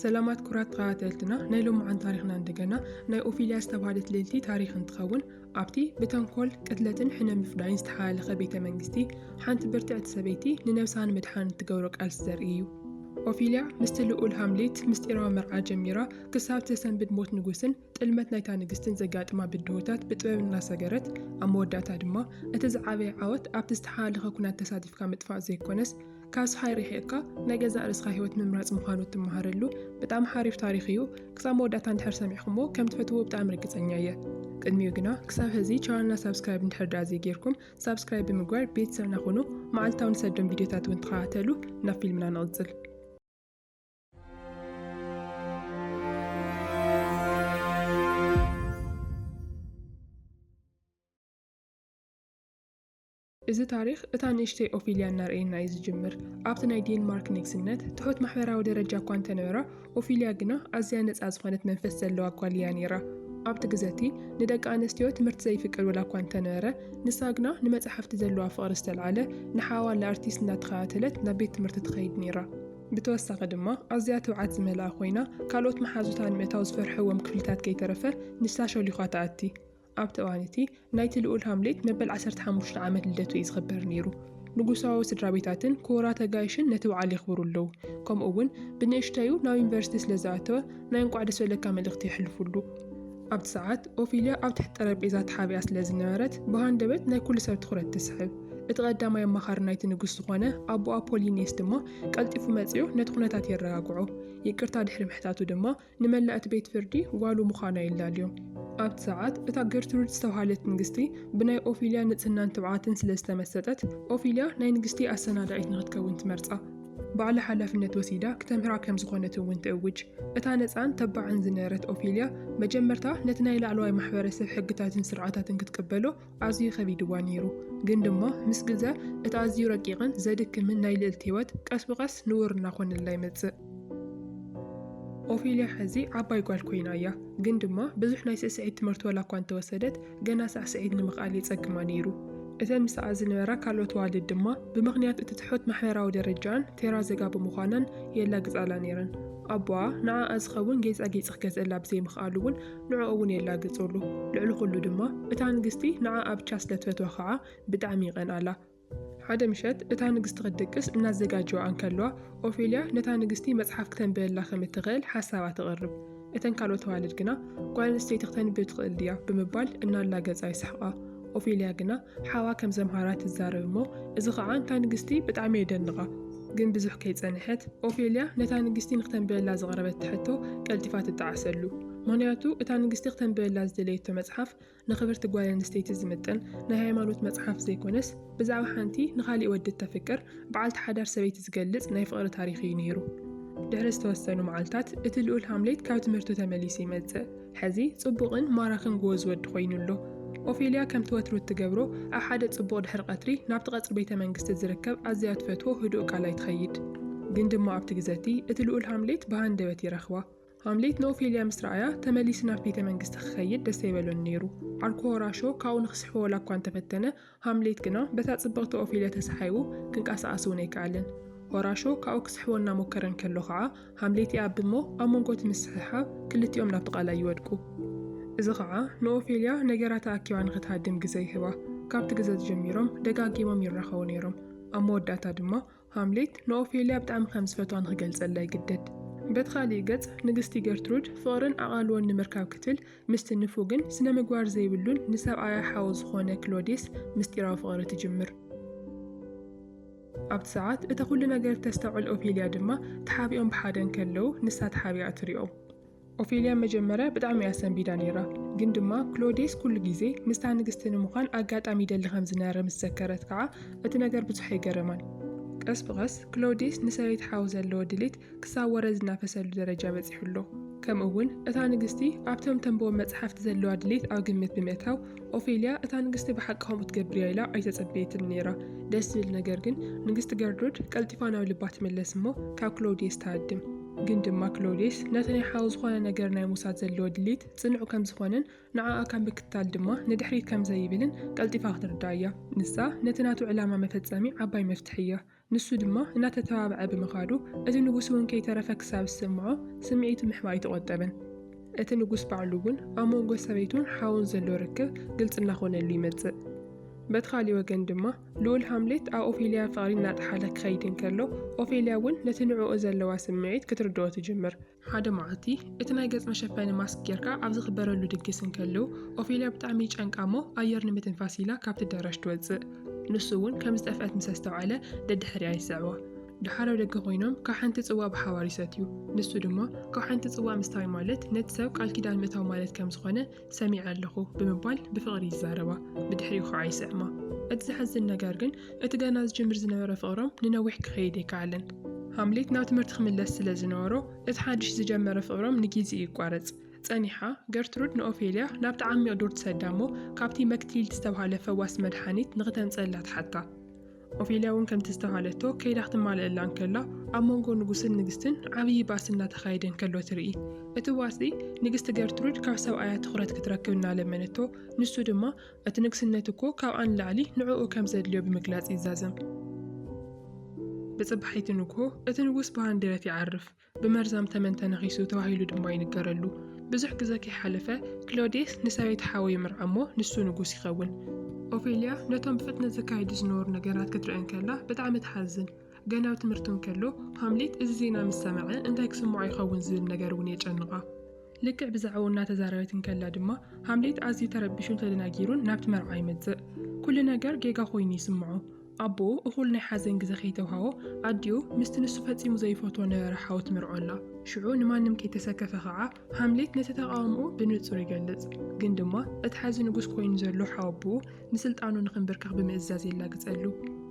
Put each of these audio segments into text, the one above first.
ሰላማት ኩራት ተኸታተልትና ናይ ሎምዓን ታሪኽና እንደገና ናይ ኦፊልያ ዝተባህለት ልእልቲ ታሪኽ እንትኸውን ኣብቲ ብተንኮል ቅትለትን ሕነ ምፍዳይን ዝተሓላለኸ ቤተ መንግስቲ ሓንቲ ብርትዕቲ ሰበይቲ ንነብሳ ንምድሓን እትገብሮ ቃልሲ ዘርኢ እዩ ኦፊልያ ምስቲ ልኡል ሃምሌት ምስጢራዊ መርዓ ጀሚራ ክሳብ ተሰንብድ ሞት ንጉስን ጥልመት ናይታ ንግስትን ዘጋጥማ ብድሆታት ብጥበብ እናሰገረት ኣብ መወዳእታ ድማ እቲ ዝዓበየ ዓወት ኣብቲ ዝተሓላለኸ ኩናት ተሳቲፍካ ምጥፋእ ዘይኮነስ ካስ ሃይሪክ እካ ናይ ገዛእ ርስካ ሂወት ምምራጽ ምዃኑ እትመሃረሉ ብጣዕሚ ሓሪፍ ታሪክ እዩ ክሳብ መወዳእታ እንድሕር ሰሚዕክሞ ከም ትፈትዎ ብጣዕሚ ርግጸኛ እየ ቅድሚኡ ግና ክሳብ ህዚ ቻናልና ሳብስክራይብ እንድሕር ደኣ ዘይጌርኩም ሳብስክራይብ ብምግባር ቤተሰብና ኹኑ መዓልታዊ ንሰዶም ቪድዮታት እውን ተኸታተሉ ናብ ፊልምና ንቕጽል እዚ ታሪኽ እታ ንእሽተይ ኦፊልያ እናርኣየና እዩ ዝጅምር። ኣብቲ ናይ ዴንማርክ ንግስነት ትሑት ማሕበራዊ ደረጃ እኳ እንተ ነበራ፣ ኦፊልያ ግና ኣዝያ ነጻ ዝኾነት መንፈስ ዘለዋ ጓል እያ ነይራ። ኣብቲ ግዘ እቲ ንደቂ ኣንስትዮ ትምህርቲ ዘይፍቀድ ወላ እኳ እንተ ነበረ፣ ንሳ ግና ንመጻሕፍቲ ዘለዋ ፍቕሪ ዝተልዓለ ንሓዋላ ኣርቲስት እናተኸታተለት ናብ ቤት ትምህርቲ ትኸይድ ነይራ። ብተወሳኺ ድማ ኣዝያ ትብዓት ዝመልኣ ኮይና፣ ካልኦት መሓዙታ ንምእታው ዝፈርሕዎም ክፍልታት ከይተረፈ ንሳ ሾሊዃ ትኣቲ። ኣብቲ እዋን እቲ፣ ናይቲ ልኡል ሃምሌት መበል ዓሰርተ ሓሙሽተ ዓመት ልደቱ እዩ ዝኽበር ነይሩ። ንጉሳዊ ስድራቤታትን ክቡራት ኣጋይሽን ነቲ በዓል የኽብሩ ኣለዉ፣ ከምኡ'ውን ብንእሽተዩ ናብ ዩኒቨርሲቲ ስለ ዝኣተወ ናይ እንቋዕ ደስ በለካ መልእኽቲ የሕልፉሉ። ኣብቲ ሰዓት፣ ኦፊልያ ኣብ ትሕቲ ጠረጴዛ ተሓቢኣ ስለ ዝነበረት ብሃንደበት ናይ ኵሉ ሰብ ትዅረት ትስሕብ። እቲ ቀዳማይ ኣማኻሪ ናይቲ ንጉስ ዝዀነ ኣቦኣ ፖሊኒየስ ድማ ቀልጢፉ መጺኡ ነቲ ኵነታት የረጋግዖ። ይቅርታ ድሕሪ ምሕታቱ ድማ ንመላእ'ቲ ቤት ፍርዲ ጓሉ ምዃና የላልዮ። ኣብቲ ሰዓት፣ እታ ገርትሩድ ዝተባህለት ንግስቲ ብናይ ኦፊልያ ንጽህናን ትብዓትን ስለ ዝተመሰጠት፣ ኦፊልያ ናይ ንግስቲ ኣሰናዳኢት ንኽትከውን ትመርጻ። ባዕላ ሓላፍነት ወሲዳ ክተምህራ ከም ዝኾነት'ውን ትእውጅ። እታ ነጻን ተባዕን ዝነበረት ኦፊልያ፣ መጀመርታ ነቲ ናይ ላዕለዋይ ማሕበረሰብ ሕግታትን ስርዓታትን ክትቅበሎ፣ ኣዝዩ ከቢድዋ ነይሩ። ግን ድማ ምስ ግዘ እቲ ኣዝዩ ረቂቕን ዘድክምን ናይ ልእልቲ ህይወት ቀስ ብቐስ ንቡር እናኾነላ ይመጽእ። ኦፊልያ ሕዚ ዓባይ ጓል ኮይና እያ። ግን ድማ ብዙሕ ናይ ስዕስዒት ትምህርቲ ዋላኳ እንተወሰደት ገና ሳዕስዒት ንምኽኣል የጸግማ ነይሩ። እተን ምስኣ ዝነበራ ካልኦት ኣዋልድ ድማ ብምኽንያት እቲ ትሑት ማሕበራዊ ደረጃኣን ቴራዘጋ ብምዃናን የላግጻላ ነይረን። ኣቦኣ ንዓኣ ዝኸውን ጌጻጌጽ ክገዝእላ ብዘይምኽኣሉ እውን ንዕኡ እውን የላግጹሉ። ልዕሊ ዅሉ ድማ፣ እታ ንግስቲ ንዓኣ ብቻ ስለ ትፈትዋ ኸኣ ብጣዕሚ ይቐንኣላ። ሓደ ምሸት እታ ንግስቲ ኽትድቅስ እናዘጋጀዋ እንከለዋ፣ ኦፌልያ ነታ ንግስቲ መጽሓፍ ክተንብበላ ከም እትኽእል ሓሳባ ተቕርብ። እተን ካልኦት ኣዋልድ ግና፣ ጓል ኣንስተይቲ ክተንብብ ትኽእል ድያ? ብምባል እናላገጻ ይስሕቓ። ኦፌልያ ግና ሓዋ ከም ዘምሃራ ትዛረብ እሞ እዚ ኸኣ ንታ ንግስቲ ብጣዕሚ የደንቓ። ግን ብዙሕ ከይጸንሐት ኦፌልያ ነታ ንግስቲ ንክተንብበላ ዘቕረበታ ሕቶ ቀልጢፋ ትጠዓሰሉ። ምኽንያቱ እታ ንግስቲ ክተንብበላ ዝደለየቶ መጽሓፍ ንኽብርቲ ጓል ኣንስተይቲ ዝምጥን ናይ ሃይማኖት መጽሓፍ ዘይኮነስ ብዛዕባ ሓንቲ ንኻሊእ ወዲ እተፍቅር በዓልቲ ሓዳር ሰበይቲ ዝገልጽ ናይ ፍቕሪ ታሪኽ እዩ ነይሩ። ድሕሪ ዝተወሰኑ መዓልታት እቲ ልኡል ሃምሌት ካብ ትምህርቱ ተመሊሱ ይመጽእ። ሐዚ ጽቡቕን ማራኽን ጎወዝ ወዲ ኮይኑ ኣሎ። ኦፌልያ ከምቲ ወትሩ እትገብሮ ኣብ ሓደ ጽቡቕ ድሕሪ ቀትሪ ናብቲ ቀጽሪ ቤተ መንግስቲ ዝርከብ ኣዝያ ትፈትዎ ህዱእ ቃላይ ትኸይድ። ግን ድማ ኣብቲ ግዘቲ እቲ ልኡል ሃምሌት ብሃንደበት ይረኽባ። ሃምሌት ንኦፌልያ ምስ ረኣያ ተመሊሱ ናብቲ ቤተ መንግስቲ ክኸይድ ደስ ኣይበሎን ነይሩ። ዓርኩ ሆራሾ ካብኡ ንክስሕቦ ዋላ እኳ እንተፈተነ ሃምሌት ግና በታ ጽብቕቲ ኦፊልያ ተሰሓይቡ ክንቀሳቐስ እውን ኣይከኣለን። ሆራሾ ካብኡ ክስሕቦ እናሞከረ እንከሎ ኸዓ ሃምሌት ይኣቢ እሞ ኣብ መንጎ እቲ ምስሕሓብ ክልቲኦም ናብቲ ቓላይ ይወድቁ። እዚ ኸዓ ንኦፌልያ ነገራታ ኣኪባ ንኽትሃድም ግዘ ይህባ። ካብቲ ግዘ እዚ ጀሚሮም ደጋጊሞም ይራኸቡ ነይሮም። ኣብ መወዳእታ ድማ ሃምሌት ንኦፌልያ ብጣዕሚ ከም ዝፈትዋ ንኽገልጸላ ይግደድ። በቲ ኻልእ ገጽ፣ ንግስቲ ገርትሩድ ፍቕርን ኣቓልቦን ንምርካብ ክትብል ምስቲ ንፉግን ስነ-ምግባር ዘይብሉን ንሰብኣያ ሓው ዝዀነ ክሎዲየስ ምስጢራዊ ፍቕሪ ትጅምር። ኣብቲ ሰዓት እቲ ዅሉ ነገር እተስተውዕል ኦፌልያ ድማ ተሓቢኦም ብሓደ እንከለዉ ንሳ ተሓቢኣ ትሪኦም። ኦፌልያ መጀመርያ ብጣዕሚ እያ ሰንቢዳ ነይራ፣ ግን ድማ ክሎዴስ ኩሉ ግዜ ምስታ ንግስቲ ንምዃን ኣጋጣሚ ይደሊ ከም ዝነበረ ምስ ዘከረት ከኣ እቲ ነገር ብዙሕ ኣይገረማን። ቀስ ብቐስ ክሎዴስ ንሰበይቲ ሓው ዘለዎ ድሌት ክሳብ ወረ ዝናፈሰሉ ደረጃ በጺሑ ኣሎ። ከምኡ'ውን እታ ንግስቲ ኣብቶም ተንብቦም መጽሓፍቲ ዘለዋ ድሌት ኣብ ግምት ብምእታው ኦፌልያ እታ ንግስቲ ብሓቂ ከምኡ ትገብር እያ ኢላ ኣይተጸበየትን ነይራ። ደስ ዝብል ነገር ግን ንግስቲ ገርድሩድ ቀልጢፋ ናብ ልባ ትምለስ እሞ ካብ ክሎዴስ ትሃድም። ግን ድማ ክሎዴስ ነቲ ናይ ሓው ዝኾነ ነገር ናይ ምውሳድ ዘለዎ ድሌት ጽኑዕ ከም ዝኾነን ንዓኣ ካብ ምክትታል ድማ ንድሕሪት ከም ዘይብልን ቀልጢፋ ክትርዳእ እያ። ንሳ ነቲ ናቱ ዕላማ መፈጸሚ ዓባይ መፍትሕ እያ። ንሱ ድማ እናተተባብዐ ብምኻዱ እቲ ንጉስ እውን ከይተረፈ ክሳብ ዝስምዖ ስምዒቱ ምሕባእ ኣይተቖጠበን። እቲ ንጉስ ባዕሉ እውን ኣብ መንጎ ሰበይቱን ሓውን ዘሎ ርክብ ግልጺ እናኾነሉ ይመጽእ። በቲ ካሊእ ወገን ድማ ልኡል ሃምሌት ኣብ ኦፌልያ ፍቕሪ እናጠሓለ ክኸይድ እንከሎ፣ ኦፌልያ እውን ነቲ ንዕኡ ዘለዋ ስምዒት ክትርድኦ ትጅምር። ሓደ መዓልቲ፣ እቲ ናይ ገጽ መሸፈኒ ማስክ ጌርካ ኣብ ዝኽበረሉ ድግስ እንከለው፣ ኦፌልያ ብጣዕሚ ይጨንቃ እሞ ኣየር ንምትንፋስ ኢላ ካብቲ ኣዳራሽ ትወጽእ። ንሱ እውን ከም ዝጠፍአት ምስ ኣስተውዓለ ደድሕሪኣ ይስዕባ። ደሓር ኣብ ደገ ኮይኖም ካብ ሓንቲ ጽዋእ ብሓባር ይሰትዩ። ንሱ ድማ ካብ ሓንቲ ጽዋእ ምስታይ ማለት ነቲ ሰብ ቃል ኪዳን ምእታው ማለት ከም ዝኾነ ሰሚዐ ኣለኹ ብምባል ብፍቕሪ ይዛረባ፣ ብድሕሪኡ ኸኣ ይስዕማ። እቲ ዘሕዝን ነገር ግን እቲ ገና ዝጅምር ዝነበረ ፍቕሮም ንነዊሕ ክኸይድ ኣይከኣለን። ሃምሌት ናብ ትምህርቲ ክምለስ ስለ ዝነበሮ እቲ ሓድሽ ዝጀመረ ፍቕሮም ንጊዜ ይቋረጽ። ጸኒሓ፣ ገርትሩድ ንኦፌልያ ናብቲ ዓሚቕ ዱር ትሰዳ እሞ ካብቲ መክትሊል ዝተባህለ ፈዋሲ መድሓኒት ንኽተምጽኣላ ትሓታ። ኦፌልያ እውን ከምቲ ዝተባህለቶ ከይዳ ክትማለኣላ እንከላ ኣብ መንጎ ንጉስን ንግስትን ዓብዪ ባእሲ እናተኻየደ እንከሎ ትርኢ። እቲ ባእሲ ንግስቲ ገርትሩድ ካብ ሰብኣያ ትኹረት ክትረክብ እናለመነቶ ንሱ ድማ እቲ ንግስነት እኮ ካብኣ ንላዕሊ ንዕኡ ከም ዘድልዮ ብምግላጽ ይዛዘም። ብጽባሒቲ ንግሆ እቲ ንጉስ ብሃንደበት ይዓርፍ። ብመርዛም ተመን ተነኺሱ ተባሂሉ ድማ ይንገረሉ። ብዙሕ ግዘ ከይሓለፈ ክሎዴስ ንሰበይቲ ሓዉ ይምርዓ እሞ ንሱ ንጉስ ይኸውን። ኦፌልያ ነቶም ብፍጥነት ዝካየዱ ዝነበሩ ነገራት ክትርኢ እንከላ ብጣዕሚ ትሓዝን። ገና ኣብ ትምህርቱ እንከሎ ሃምሌት እዚ ዜና ምስ ሰምዐ እንታይ ክስምዖ ይኸውን ዝብል ነገር እውን የጨንቓ። ልክዕ ብዛዕባኡ እናተዛረበት እንከላ ድማ ሃምሌት ኣዝዩ ተረቢሹን ተደናጊሩን ናብቲ መርዓ ይመፅእ። ኩሉ ነገር ጌጋ ኮይኑ ይስምዖ። ኣቦ እኹል ናይ ሓዘን ግዜ ከይተውሃቦ፣ ኣዲኡ ምስቲ ንሱ ፈጺሙ ዘይፈትዎ ነበረ ሓው ትምርዖላ። ሽዑ ንማንም ከይተሰከፈ ከኣ ሃምሌት ነቲ ተቓውምኡ ብንጹር ይገልጽ። ግን ድማ እቲ ሓዚ ንጉስ ኮይኑ ዘሎ ሓው ኣቦኡ ንስልጣኑ ንኽንብርከኽ ብምእዛዝ የላግጸሉ።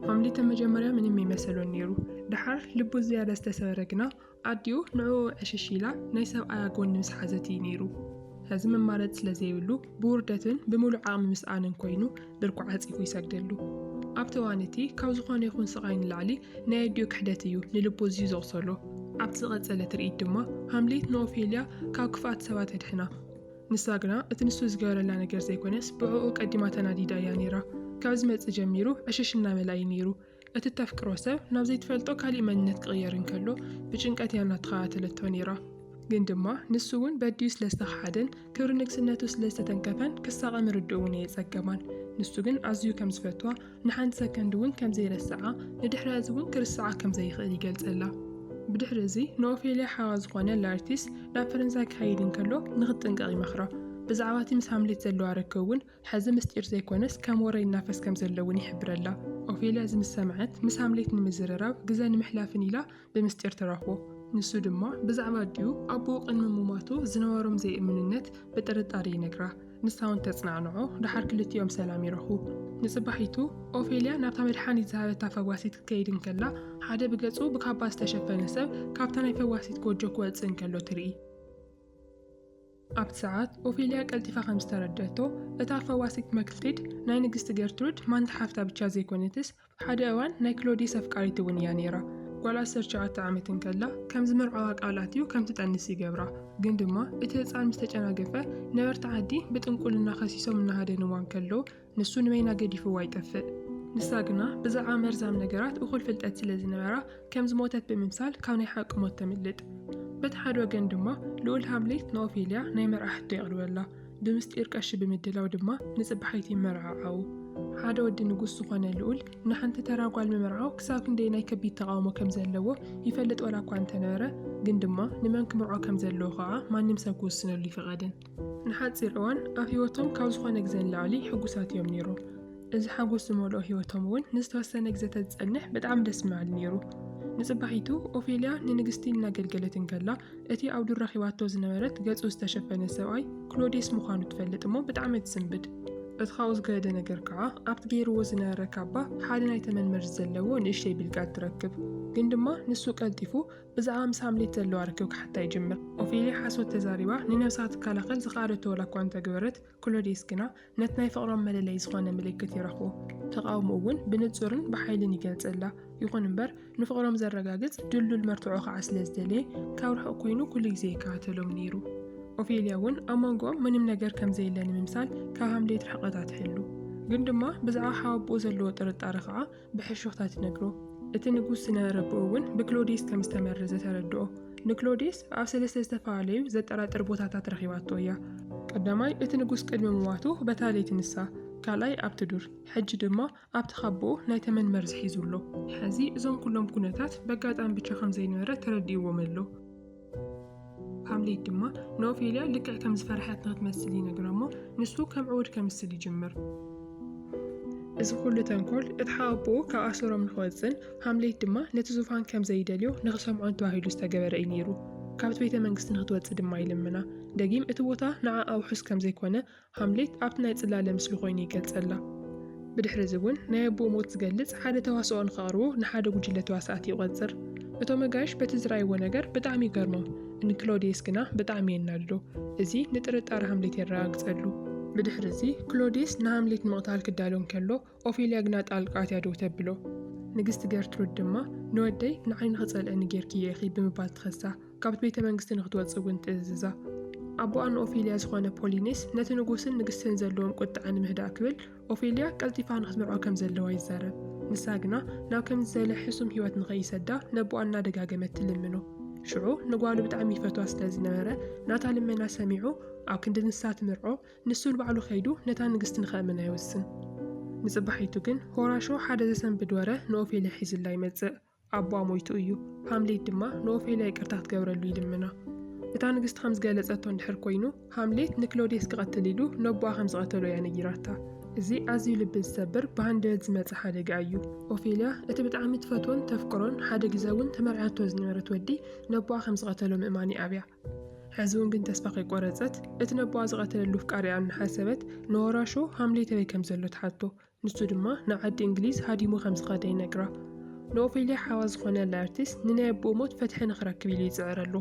ሃምሌተ መጀመርያ ምንም ኣይመሰሎን ነይሩ። ደሓር ልቡ ዝያዳ ዝተሰበረ ግና፣ ኣዲኡ ንዕኡ ዕሽሽ ኢላ ናይ ሰብኣያ ጎኒ ምስ ሓዘት እዩ ነይሩ። ሕዚ መማረፂ ስለ ዘይብሉ ብውርደትን ብምሉእ ዓቕሚ ምስኣንን ኮይኑ ብርኩ ዓፂፉ ይሰግደሉ። ኣብቲ እዋን እቲ ካብ ዝኾነ ይኹን ስቓይ ንላዕሊ ናይ ኣዲኡ ክሕደት እዩ ንልቡ ኣዝዩ ዘቑሰሎ። ኣብቲ ዝቐፀለ ትርኢት ድማ ሃምሌት ንኦፌልያ ካብ ክፍኣት ሰባት የድሕና። ንሳ ግና እቲ ንሱ ዝገበረላ ነገር ዘይኮነስ ብዕኡ ቀዲማ ተናዲዳ እያ ነይራ። ካብ ዝመፅእ ጀሚሩ ዕሽሽ እናበላ እዩ ነይሩ። እቲ እተፍቅሮ ሰብ ናብ ዘይትፈልጦ ካሊእ መንነት ክቕየር እንከሎ ብጭንቀት እያ እናተኸታተለቶ ነይራ። ግን ድማ ንሱ እውን በዲኡ ስለ ዝተኸሓደን ክብሪ ንግስነቱ ስለ ዝተተንከፈን ክሳቐ ምርድኡ እውን ኣየጸገማን። ንሱ ግን ኣዝዩ ከም ዝፈትዋ፣ ንሓንቲ ሰከንድ እውን ከም ዘይረስዓ፣ ንድሕሪ እዚ እውን ክርስዓ ከም ዘይኽእል ይገልጸላ። ብድሕሪ እዚ ንኦፌልያ ሓዋ ዝኾነ ላርቲስ ናብ ፈረንሳይ ክኸይድ እንከሎ ንኽትጥንቀቕ ይመኽራ። ብዛዕባ እቲ ምስ ሃምሌት ዘለዋ ርክብ እውን ሕዚ ምስጢር ዘይኮነስ ከም ወረ ይናፈስ ከም ዘሎ እውን ይሕብረላ። ኦፌልያ እዚ ምስ ሰምዐት፣ ምስ ሃምሌት ንምዝርራብ ግዘ ንምሕላፍን ኢላ ብምስጢር ትረኽቦ። ንሱ ድማ ብዛዕባ ኣዲኡ ኣቦኡ ቅድሚ ምሟቱ ዝነበሮም ዘይእምንነት ብጥርጣረ ይነግራ። ንሳ እውን ተፅናዕንዖ፣ ደሓር ክልቲኦም ሰላም ይረኽቡ። ንፅባሒቱ ኦፌልያ ናብታ መድሓኒት ዝሃበታ ፈዋሲት ክትከይድ እንከላ ሓደ ብገፁ ብካባ ዝተሸፈነ ሰብ ካብታ ናይ ፈዋሲት ጎጆ ክወፅእ እንከሎ ትርኢ። ኣብቲ ሰዓት ኦፌልያ ቀልጢፋ ከም ዝተረድኣቶ፣ እታ ፈዋሲት መክልቲድ ናይ ንግስቲ ገርትሩድ ማንታ ሓፍታ ብቻ ዘይኮነትስ ሓደ እዋን ናይ ክሎዲየስ ኣፍቃሪት እውን እያ ነይራ። ጓል ዓሰርተ ሸውዓተ ዓመት እንከላ ከም ዝመርዖዋ ቃል ኣትዩ ከም ትጠንስ ይገብራ። ግን ድማ እቲ ህጻን ምስ ተጨናገፈ ነበርቲ ዓዲ ብጥንቁልና ከሲሶም እናሃደንዋ እንከለዉ፣ ንሱ ንበይና ገዲፍዋ ይጠፍእ። ንሳ ግና ብዛዕባ መርዛም ነገራት እኹል ፍልጠት ስለ ዝነበራ፣ ከም ዝሞተት ብምምሳል ካብ ናይ ሓቂ ሞት ተምልጥ። በቲ ሓደ ወገን ድማ ልኡል ሃምሌት ንኦፌልያ ናይ መርዓ ሕቶ የቕርበላ፣ ብምስጢር ቀሺ ብምድላው ድማ ንጽባሒት ይመርዓዓዉ። ሓደ ወዲ ንጉስ ዝኾነ ልኡል ንሓንቲ ተራ ጓል ምምርዓው ክሳብ ክንደይ ናይ ከቢድ ተቓውሞ ከም ዘለዎ ይፈልጥ ዋላ እኳ እንተነበረ፣ ግን ድማ ንመን ክምርዖ ከም ዘለዎ ከኣ ማንም ሰብ ክውስነሉ ይፍቐድን። ንሓጺር እዋን ኣብ ህይወቶም ካብ ዝኾነ ግዜ ንላዕሊ ሕጉሳት እዮም ነይሩ። እዚ ሓጎስ ዝመልኦ ህይወቶም እውን ንዝተወሰነ ግዜ ተዝጸንሕ ብጣዕሚ ደስ ምበል ነይሩ። ንጽባሒቱ ኦፌልያ ንንግስቲ እናገልገለት እንከላ እቲ ኣብ ዱር ረኺባቶ ዝነበረት ገጹ ዝተሸፈነ ሰብኣይ ክሎዴስ ምዃኑ ትፈልጥ እሞ ብጣዕሚ ትስንብድ። እቲ ካብኡ ዝገደደ ነገር ከዓ ኣብቲ ገይርዎ ዝነበረ ካባ ሓደ ናይ ተመን መርዚ ዘለዎ ንእሽተይ ብልቃጥ ትረክብ። ግን ድማ ንሱ ቀልጢፉ ብዛዕባ ምስ ሃምሌት ዘለዋ ርክብ ክሓታ ይጅምር። ኦፌልያ ሓሶት ተዛሪባ ንነብሳ ክትከላኸል ዝኸኣለቶ ዋላኳ እንተገበረት፣ ክሎድየስ ግና ነቲ ናይ ፍቕሮም መለለዪ ዝኾነ ምልክት ይረኽቦ። ተቓውሞኡ እውን ብንጹርን ብሓይልን ይገልጸላ። ይኹን እምበር ንፍቕሮም ዘረጋግጽ ድልዱል መርትዖ ከዓ ስለ ዝደለየ ካብ ርሑቕ ኮይኑ ኩሉ ግዜ ይከታተሎም ነይሩ። ኦፌልያ እውን ኣብ መንጎኦም ምንም ነገር ከም ዘየለ ንምምሳል ካብ ሃምሌት ርሕቐታ ትሕሉ። ግን ድማ ብዛዕባ ሓወቦኡ ዘለዎ ጥርጣረ ከዓ ብሕሹኽታ ትነግሮ። እቲ ንጉስ ዝነበረ ኣቦኡ እውን ብክሎዴስ ከም ዝተመረዘ ተረድኦ። ንክሎዴስ ኣብ ሰለስተ ዝተፈላለዩ ዘጠራጥር ቦታታት ረኺባቶ እያ። ቀዳማይ፣ እቲ ንጉስ ቅድሚ ምሟቱ በታ ለይቲ ንሳ፣ ካልኣይ ኣብቲ ዱር፣ ሕጂ ድማ ኣብቲ ካቦኡ ናይ ተመን መርዚ ሒዙ ኣሎ። ሕዚ እዞም ኩሎም ኩነታት በጋጣሚ ብቻ ከም ዘይነበረ ተረዲእዎም ኣሎ። ሃምሌት ድማ ንኦፌልያ ልክዕ ከም ዝፈርሐት ንክትመስል ይነግራ እሞ ንሱ ከም ዕዉድ ከምስል ይጅምር። እዚ ኩሉ ተንኮል እቲ ሓኣቦኡ ካብ ኣሰሮም ንክወፅእን ሃምሌት ድማ ነቲ ዙፋን ከም ዘይደልዮ ንክሰምዖን ተባሂሉ ዝተገበረ እዩ ነይሩ። ካብቲ ቤተ መንግስቲ ንክትወፅእ ድማ ይልምና። ደጊም እቲ ቦታ ንዓ ኣውሑስ ከም ዘይኮነ ሃምሌት ኣብቲ ናይ ጽላለ ምስሊ ኮይኑ ይገልጸላ። ብድሕሪ እዚ እውን ናይ ኣቦኡ ሞት ዝገልጽ ሓደ ተዋስኦ ንኸቕርቡ ንሓደ ጉጅለ ተዋሳእቲ ይቖጽር። እቶም ኣጋይሽ በቲ ዝረኣይዎ ነገር ብጣዕሚ ይገርሞም፣ ንክሎድየስ ግና ብጣዕሚ የናድዶ። እዚ ንጥርጣረ ሃምሌት የረጋግጸሉ። ብድሕሪ እዚ ክሎድየስ ንሃምሌት ንምቕታል ክዳሎ እንከሎ ኦፌልያ ግና ጣልቃ ኣትያ ደው ተብሎ። ንግስቲ ገርትሩድ ድማ ንወደይ ንዓይ ንኽጸልኣኒ ጌርክዮ ኢኺ ብምባል ትኸሳ፣ ካብቲ ቤተ መንግስቲ ንኽትወጽእ እውን ትእዝዛ። ኣቦኣ ንኦፌልያ ዝዀነ ፖሊኔስ ነቲ ንጉስን ንግስትን ዘለዎም ቍጥዐ ንምህዳእ ክብል ኦፌልያ ቀልጢፋ ንኽትምርዖ ከም ዘለዋ ይዛረብ። ንሳ ግና ናብ ከምዚ ዝበለ ሕሱም ህይወት ንኸይሰዳ ነቦኣ እናደጋገመት ትልምኖ። ሽዑ ንጓሉ ብጣዕሚ ይፈትዋ ስለ ዝነበረ ናታ ልመና ሰሚዑ ኣብ ክንዲ ንሳ ትምርዖ ንሱ ንባዕሉ ከይዱ ነታ ንግስቲ ንኸእምና ይውስን። ንጽባሒቱ ግን ሆራሾ ሓደ ዘሰንብድ ወረ ንኦፌልያ ሒዙላ ይመጽእ። ኣቦኣ ሞይቱ እዩ። ሃምሌት ድማ ንኦፌልያ ይቅርታ ክትገብረሉ ይልምና። እታ ንግስቲ ከም ዝገለጸቶ እንድሕር ኮይኑ፣ ሃምሌት ንክሎዴስ ክቐትል ኢሉ ነቦኣ ከም ዝቐተሎ እያ ነጊራታ። እዚ ኣዝዩ ልቢ ዝሰብር ብሃንደበት ዝመጸ ሓደጋ እዩ። ኦፌልያ እቲ ብጣዕሚ ትፈትዎን ተፍቅሮን ሓደ ግዘ እውን ተመርዕያቶ ዝነበረት ወዲ ነቦኣ ከም ዝቐተሎ ምእማን ይኣብያ። ሕዚ'ውን ግን ተስፋ ከይቆረጸት፣ እቲ ነቦኣ ዝቐተለሉ ኣፍቃሪኣ እናሓሰበት፣ ንወራሾ ሃምሌት ኣበይ ከም ዘሎ ትሓቶ። ንሱ ድማ ንዓዲ እንግሊዝ ሃዲሙ ከም ዝኸደ ይነግራ። ንኦፌልያ ሓዋ ዝኾነ ላርቲስ ንናይ ኣቦኡ ሞት ፍትሒ ንኽረክብ ኢሉ ይጽዕረሉ።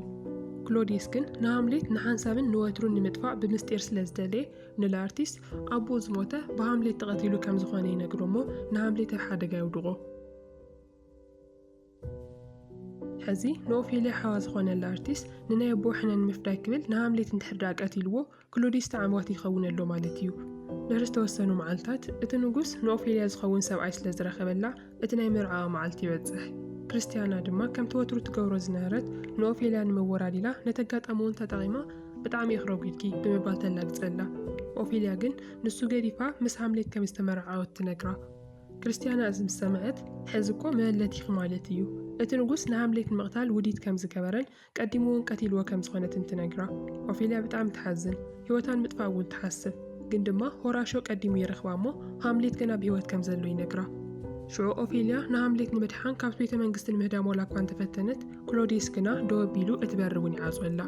ክሎዲየስ ግን ንሃምሌት ንሓንሳብን ንወትሩን ንምጥፋእ ብምስጢር ስለ ዝደለየ፣ ንላርቲስ ኣቦኡ ዝሞተ ብሃምሌት ተቐቲሉ ከም ዝኾነ ይነግሮ እሞ ንሃምሌት ኣብ ሓደጋ የውድቖ። ሕዚ ንኦፌልያ ሓዋ ዝኾነላ ኣርቲስት ንናይ ኣቦ ሕነ ንምፍዳይ ክብል ንሃምሌት እንድሕር ደኣ ቀቲልዎ ክሎዲስ ተዓምዋቲ ይኸውን ኣሎ ማለት እዩ። ድሕሪ ዝተወሰኑ መዓልታት እቲ ንጉስ ንኦፌልያ ዝኸውን ሰብኣይ ስለ ዝረኸበላ እቲ ናይ መርዓኣ መዓልቲ ይበጽሕ። ክርስትያና ድማ ከምቲ ወትሩ ትገብሮ ዝነበረት ንኦፌልያ ንምወራድ ኢላ ነቲ ኣጋጣሚ እውን ተጠቒማ ብጣዕሚ እየ ክረጒድኪ ብምባል ተላግጸላ። ኦፌልያ ግን ንሱ ገዲፋ ምስ ሃምሌት ከም ዝተመርዓወት ትነግራ። ክርስትያና እዚ ምስ ሰምዐት፣ ሕዚ እኮ መበለቲኺ ማለት እዩ፣ እቲ ንጉስ ንሃምሌት ንምቕታል ውዲት ከም ዝገበረን ቀዲሙ እውን ቀቲልዎ ከም ዝኾነትን ትነግራ። ኦፌልያ ብጣዕሚ ትሓዝን፣ ህይወታ ንምጥፋእ እውን ትሓስብ። ግን ድማ ሆራሾ ቀዲሙ ይረኽባ እሞ ሃምሌት ገና ብህይወት ከም ዘሎ ይነግራ። ሽዑ ኦፌልያ ንሃምሌት ንምድሓን ካብቲ ቤተ መንግስቲ ንምህዳም ዋላ እኳ እንተፈተነት፣ ክሎዲየስ ግና ደው ኣቢሉ እቲ በሪ እውን ይዓጽወላ።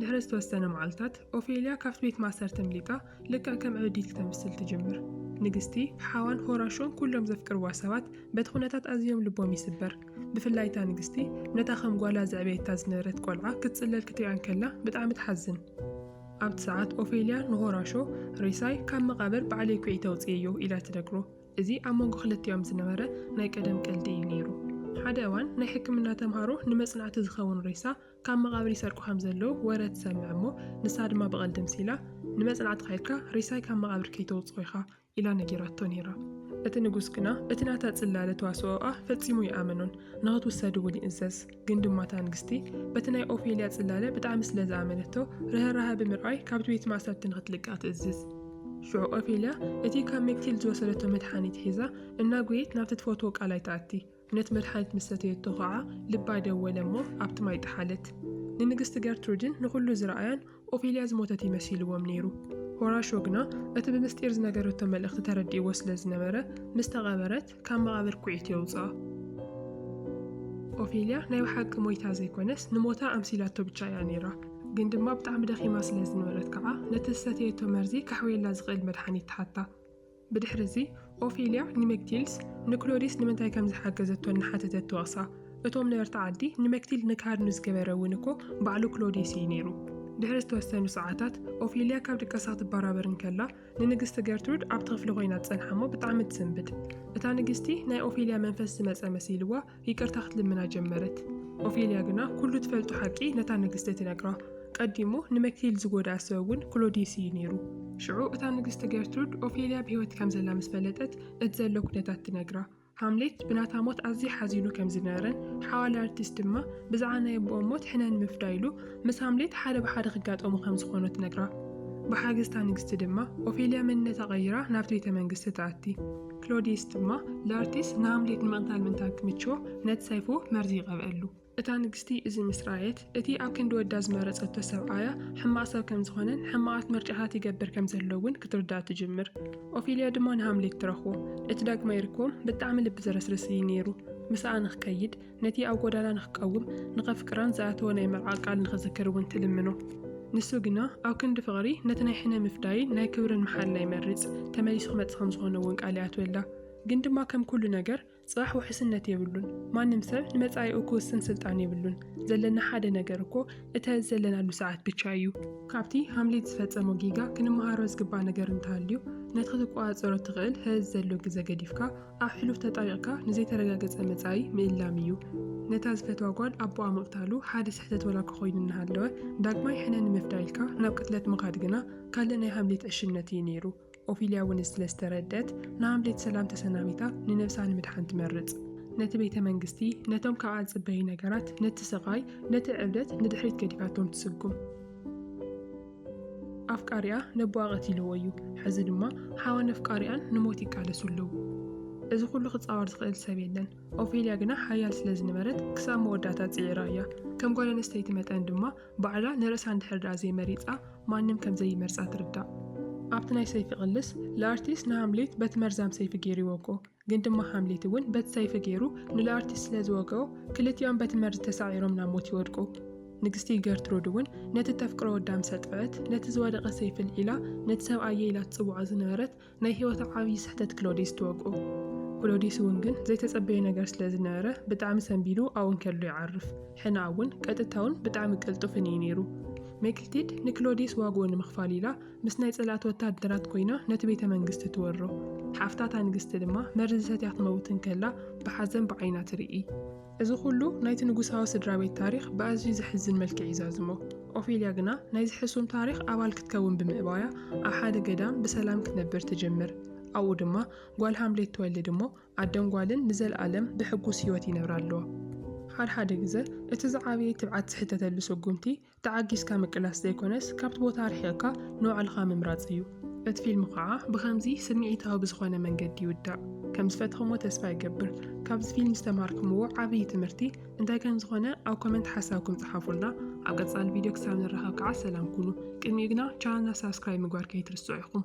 ድሕሪ ዝተወሰነ መዓልታት ኦፌልያ ካብቲ ቤት ማእሰርቲ ኣምሊጣ ልክዕ ከም ዕብዲት ተምስል ትጅምር። ንግስቲ፣ ሓዋን ሆራሾን ኩሎም ዘፍቅርዋ ሰባት በቲ ኩነታት ኣዝዮም ልቦም ይስበር። ብፍላይ እታ ንግስቲ ነታ ከም ጓላ ዘዕበየታ ዝነበረት ቆልዓ ክትጽለል ክትሪኣ እንከላ ብጣዕሚ ትሓዝን። ኣብቲ ሰዓት ኦፌልያ ንሆራሾ ሬሳይ ካብ መቓብር ባዕለይ ኩዒተ ኣውጺኤዮ ኢላ ትነግሮ። እዚ ኣብ መንጎ ክልቲኦም ዝነበረ ናይ ቀደም ቀልዲ እዩ ነይሩ። ሓደ እዋን ናይ ሕክምና ተምሃሮ ንመጽናዕቲ ዝኸውን ሬሳ ካብ መቓብር ይሰርቁ ከም ዘለዉ ወረ ትሰምዕ እሞ፣ ንሳ ድማ ብቐልዲ ምሲላ፣ ንመጽናዕትኻ ኢልካ ሬሳይ ካብ መቓብር ከይተውጽኦ ኢኻ፣ ኢላ ነጊራቶ ነይራ። እቲ ንጉስ ግና፣ እቲ ናታ ጽላለ ተዋስኦኣ ፈጺሙ ኣይኣመኖን፣ ንኽትውሰድ እውን ይእዘዝ። ግን ድማ እታ ንግስቲ፣ በቲ ናይ ኦፌልያ ጽላለ ብጣዕሚ ስለ ዝኣመነቶ፣ ርህራሀ ብምርኣይ ካብቲ ቤት ማእሰርቲ ንኽትልቀቕ ትእዝዝ። ሽዑ ኦፌልያ፣ እቲ ካብ ሜክቲልድ ዝወሰደቶ መድሓኒት ሒዛ፣ እናጎየየት ናብቲ ትፈትዎ ቃላይ ትኣቲ። ነቲ መድሓኒት ምስ ሰተየቶ ኸዓ ልባ ደወለ እሞ ኣብቲ ማይ ጠሓለት። ንንግስቲ ገርትሩድን ንኹሉ ዝረኣያን ኦፌልያ ዝሞተት እዩ መሲልዎም ነይሩ። ሆራሾ ግና እቲ ብምስጢር ዝነገረቶ መልእኽቲ ተረዲእዎ ስለ ዝነበረ ምስ ተቐበረት ካብ መቓብር ኩዒት የውጽኣ። ኦፌልያ ናይ ብሓቂ ሞይታ ዘይኮነስ ንሞታ ኣምሲላቶ ብቻ እያ ነይራ። ግን ድማ ብጣዕሚ ደኺማ ስለ ዝነበረት ከዓ ነቲ ዝሰተየቶ መርዚ ከሕውየላ ዝኽእል መድሓኒት ትሓታ። ብድሕርዚ፣ ኦፊልያ ንመክቲልስ ንክሎዲስ ንምንታይ ከም ዝሓገዘቶ እናሓተተት ትወቕሳ። እቶም ነበርቲ ዓዲ፣ ንመክቲልድ ንክሃድኑ ዝገበረ እውን እኮ ባዕሉ ክሎዲስ እዩ ነይሩ። ድሕሪ ዝተወሰኑ ሰዓታት፣ ኦፊልያ ካብ ድቃሳ ክትበራበር እንከላ፣ ንንግስቲ ገርትሩድ ኣብቲ ክፍሊ ኮይና ትጸንሓ'ሞ ብጣዕሚ ትስንብድ። እታ ንግስቲ፣ ናይ ኦፊልያ መንፈስ ዝመጸ መሲልዋ፣ ይቅርታ ክትልምና ጀመረት። ኦፌልያ ግና ኩሉ ትፈልጦ ሓቂ ነታ ንግስቲ ትነግራ። ቀዲሙ ንመክሊል ዝጎድኣ ሰብ እውን ክሎዲየስ እዩ ነይሩ። ሽዑ እታ ንግስቲ ገርትሩድ ኦፌልያ ብህይወት ከም ዘላ ምስ ፈለጠት እቲ ዘሎ ኩነታት ትነግራ። ሃምሌት ብናታ ሞት ኣዝዩ ሓዚኑ ከም ዝነበረን ሓዋላ ኣርቲስት ድማ ብዛዕባ ናይ ኣቦኦም ሞት ሕነ ንምፍዳይ ኢሉ ምስ ሃምሌት ሓደ ብሓደ ክጋጠሙ ከም ዝኾኑ ትነግራ። ብሓገዝ እታ ንግስቲ ድማ ኦፌልያ መንነታ ቀይራ ናብቲ ቤተ መንግስቲ ትኣቲ። ክሎዲየስ ድማ ላርቲስ ንሃምሌት ንምቕታል ምእንታን ክምችዎ ነቲ ሰይፉ መርዚ ይቐብኣሉ። እታ ንግስቲ እዚ ምስ ረኣየት፣ እቲ ኣብ ክንዲ ወዳ ዝመረጸቶ ሰብኣያ ሕማቕ ሰብ ከም ዝዀነን ሕማቓት ምርጫታት ይገብር ከም ዘሎ'ውን ክትርዳእ ትጅምር። ኦፊልያ ድማ ንሃምሌት ትረኽቦ። እቲ ዳግማይ ርክቦም ብጣዕሚ ልቢ ዘረስርስ እዩ ነይሩ። ምስኣ ንኽከይድ፣ ነቲ ኣብ ጐዳና ንኽቀውም ንኸፍቅራን ዝኣተዎ ናይ መርዓ ቃል ንኽዝክር እውን ትልምኖ። ንሱ ግና ኣብ ክንዲ ፍቕሪ ነቲ ናይ ሕነ ምፍዳይን ናይ ክብርን መሓላ ይመርጽ፣ ተመሊሱ ክመጽእ ከም ዝዀነ እውን ቃል ይኣትወላ። ግን ድማ ከም ኵሉ ነገር ጽባሕ ውሕስነት የብሉን። ማንም ሰብ ንመጻኢኡ ክውስን ስልጣን የብሉን። ዘለና ሓደ ነገር እኮ እተ ዘለናሉ ሰዓት ብቻ እዩ። ካብቲ ሃምሌት ዝፈጸሞ ጌጋ ክንመሃሮ ዝግባእ ነገር እንተሃልዩ ነቲ ክትቈጻጸሮ እትኽእል ሐዚ ዘሎ ግዘ ገዲፍካ ኣብ ሕሉፍ ተጣይቕካ ንዘይተረጋገጸ መጻኢ ምእላም እዩ። ነታ ዝፈትዋ ጓል ኣቦኣ ምቕታሉ ሓደ ስሕተት ወላኳ ኮይኑ እናሃለወ፣ ዳግማይ ሕነ ንምፍዳይ ኢልካ ናብ ቅትለት ምኻድ ግና ካልእ ናይ ሃምሌት ዕሽነት እዩ ነይሩ። ኦፊልያ እውን እዚ ስለ ዝተረድኣት፣ ንሃምሌት ሰላም ተሰናቢታ ንነብሳ ንምድሓን ትመርጽ። ነቲ ቤተ መንግስቲ፣ ነቶም ካብኣ ዝጽበዩ ነገራት፣ ነቲ ስቓይ፣ ነቲ ዕብደት ንድሕሪት ገዲፋቶም ትስጉም። ኣፍቃሪኣ ነቦኣ ቀቲልዎ እዩ ሐዚ ድማ ሓዋን ኣፍቃሪኣን ንሞት ይቃለሱ ኣለዉ እዚ ኩሉ ክፃወር ዝኽእል ሰብ የለን ኦፌልያ ግና ሓያል ስለ ዝነበረት ክሳብ መወዳእታ ፅዒራ እያ ከም ጓል ኣነስተይቲ መጠን ድማ ባዕላ ንርእሳ እንድሕር ደኣ ዘይመሪፃ ማንም ከም ዘይመርፃ ትርዳእ ኣብቲ ናይ ሰይፊ ቅልስ ለኣርቲስ ንሃምሌት በቲ መርዛም ሰይፊ ገይርዎ እኮ ግን ድማ ሃምሌት እውን በቲ ሰይፊ ገይሩ ንለኣርቲስ ስለ ዝወግኦ ክልቲኦም በቲ መርዚ ተሳዒሮም ናብ ሞት ይወድቁ። ንግስቲ ገርትሩድ እውን ነቲ እተፍቅሮ ወዳ ምስ ኣጥፍኣት ነቲ ዝወደቐ ሰይፊ ኣልዒላ ነቲ ሰብኣየይ ኢላ ትጽውዖ ዝነበረት ናይ ህይወታ ዓብዪ ስሕተት ክሎዲስ ትወግኦ። ክሎዲስ እውን ግን ዘይተጸበዮ ነገር ስለ ዝነበረ ብጣዕሚ ሰንቢዱ ኣብኡ እንከሎ ይዓርፍ። ሕነኣ እውን ቀጥታውን ብጣዕሚ ቅልጡፍን እዩ ነይሩ። ሜክቲድ ንክሎዲስ ዋግኡ ንምኽፋል ኢላ ምስ ናይ ጸላእቲ ወተሃደራት ኮይና ነቲ ቤተ መንግስቲ ትወሮ። ሓፍታ እታ ንግስቲ ድማ መርዚ ሰትያ ክትመውት እንከላ ብሓዘን ብዓይና ትርኢ። እዚ ኹሉ ናይቲ ንጉሳዊ ስድራ ቤት ታሪኽ ብኣዝዩ ዘሕዝን መልክዕ ይዛዝሞ። ኦፌልያ ግና ናይዚ ሕሱም ታሪኽ ኣባል ክትከውን ብምእባያ ኣብ ሓደ ገዳም ብሰላም ክትነብር ትጅምር። ኣብኡ ድማ ጓል ሃምሌት ትወልድ እሞ ኣደን ጓልን ንዘልኣለም ብሕጉስ ህይወት ይነብራ ኣለዋ። ሓድሓደ ግዘ እቲ ዝዓበየ ትብዓት ዝሕተተሉ ስጉምቲ ተዓጊስካ ምቅላስ ዘይኮነስ ካብቲ ቦታ ርሒቕካ ንባዕልኻ ምምራጽ እዩ። እቲ ፊልም ኸኣ ብኸምዚ ስምዒታዊ ብዝኾነ መንገዲ ይውዳእ። ከም ዝፈተኹምዎ ተስፋ ይገብር። ካብዚ ፊልም ዝተማሃርክምዎ ዓብዪ ትምህርቲ እንታይ ከም ዝኾነ ኣብ ኮመንት ሓሳብኩም ጽሓፉልና። ኣብ ቀጻሊ ቪድዮ ክሳብ ንራኸብ ከኣ ሰላም ኩኑ። ቅድሚኡ ግና ቻነልና ሳብስክራይብ ምግባር ከይትርስዑ ኢኹም።